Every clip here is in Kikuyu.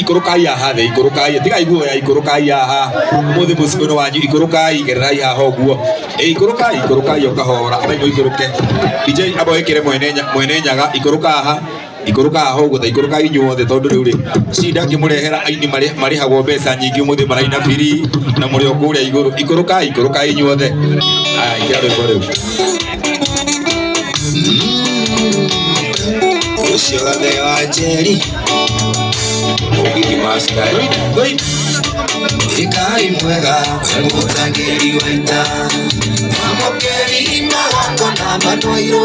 ikũrũkai haha thĩ ikũrũkai tigai guoya ikũrũkai haha ũmũthĩ mũciĩ ũyũ wanyu ikũrũkai gererai haha ũguo Ĩ, ikũrũkai ikũrũkai o kahora aba ikũrũke DJ aba wĩkĩre mwene nya- mwene nyaga ikũrũka haha ikũrũkaga ho gũtha ikũrũkaga inyuothe tondũ rĩu rĩ cinda ngĩmũrehera aini marĩ- marĩhagwo mbeca nyingĩ mũthĩ maraina biri na mũrĩ o kũrĩa igũrũ ikũrũkaga ikũrũkaga inyuothe aya ikia rwĩmbo rĩu ũcio gathe wa njeri mũgigi maskari ikai mwega mũtangĩri waita mamũkeri magongona matwairwo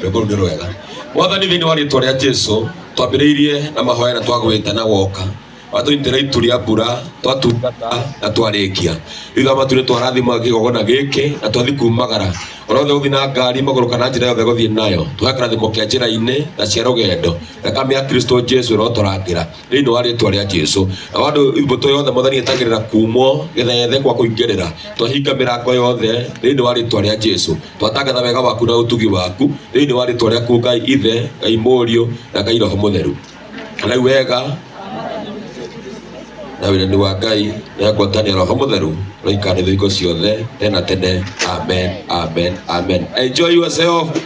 rwĩmbo rũu nĩ rwega mwathani thĩinĩ wa rĩtwa rĩa jesu twambĩrĩirie na mahoya na twagwĩte na woka watũnyitĩra itu rĩa mbura twatungata na twarĩkia thutha wa maturĩ twarathima kĩgogona gĩkĩ na twathi kumagara ona othe gũthiĩ na ngari magũrũ kana njĩra yothe gũthiĩ nayo tũhe kĩrathimo kĩa njĩra-inĩ na cia rũgendo thakame ya kristo jesu ĩrotũrangĩra thĩinĩ wa rĩtwa rĩa jesu na wandå mbåtå yothe mwathani ĩtagä rä ra kumwo gä thethe kwa kå ingä rä ra twahinga mä rango yothe thĩinĩ wa rĩtwa rĩa jesu twatangatha wega waku na å tugi waku thĩinĩ wa rĩtwa rĩaku ngai ithe ngai må riå na ngai roho må theru rau wega na wĩrani wa ngai na ngwatanio roho må theru roikanä thå igo ciothe tena tene amen amen amen enjoy yourself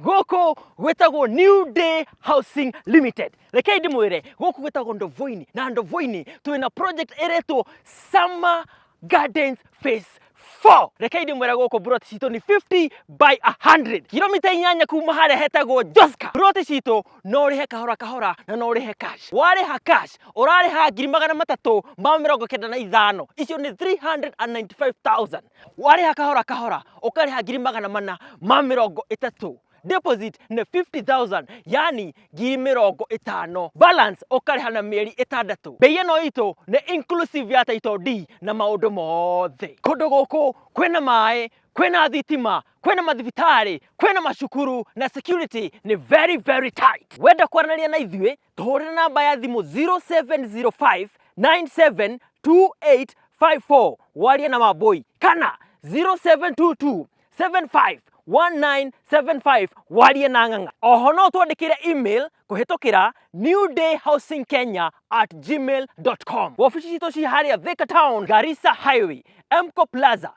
gũkũ gwĩtagwo New Day Housing Limited. Rekei ndĩmwĩre gũkũ gwĩtagwo Ndovoini na Ndovoini twĩ na project ĩretwo Summer Gardens Phase 4. Rekei ndĩmwĩre gũkũ buroti citũ nĩ 50 by 100. Kilomita inyanya kuma harĩa hetagwo Joska. Buroti citũ no ũrĩhe kahora kahora na no ũrĩhe cash. Warĩha cash ũrarĩha ngiri magana matatũ ma mĩrongo kenda na ithano. Icio nĩ 395,000. warĩha kahora kahora ũkarĩha ngiri magana mana ma mĩrongo ĩtatũ deposit nĩ 50000 yani ngiri mĩrongo ĩtano balance ũkarĩha na mĩeri ĩtandatũ mbei ĩno itũ nĩ inclusive ya title D na maũndũ mothe kũndũ gũkũ kwĩna maĩ kwĩna thitima kwĩna mathibitarĩ kwĩna macukuru na security nĩ very very tight wenda kwaranĩria na ithuĩ tora namba ya thimũ 0705972854 warie na wambũi kana 0722751975 warie na ng'ang'a oho no twandĩkĩre email kũhĩtũkĩra newdayhousingkenya at gmail.com wabici citũ ci harĩa thika town garissa highway mco plaza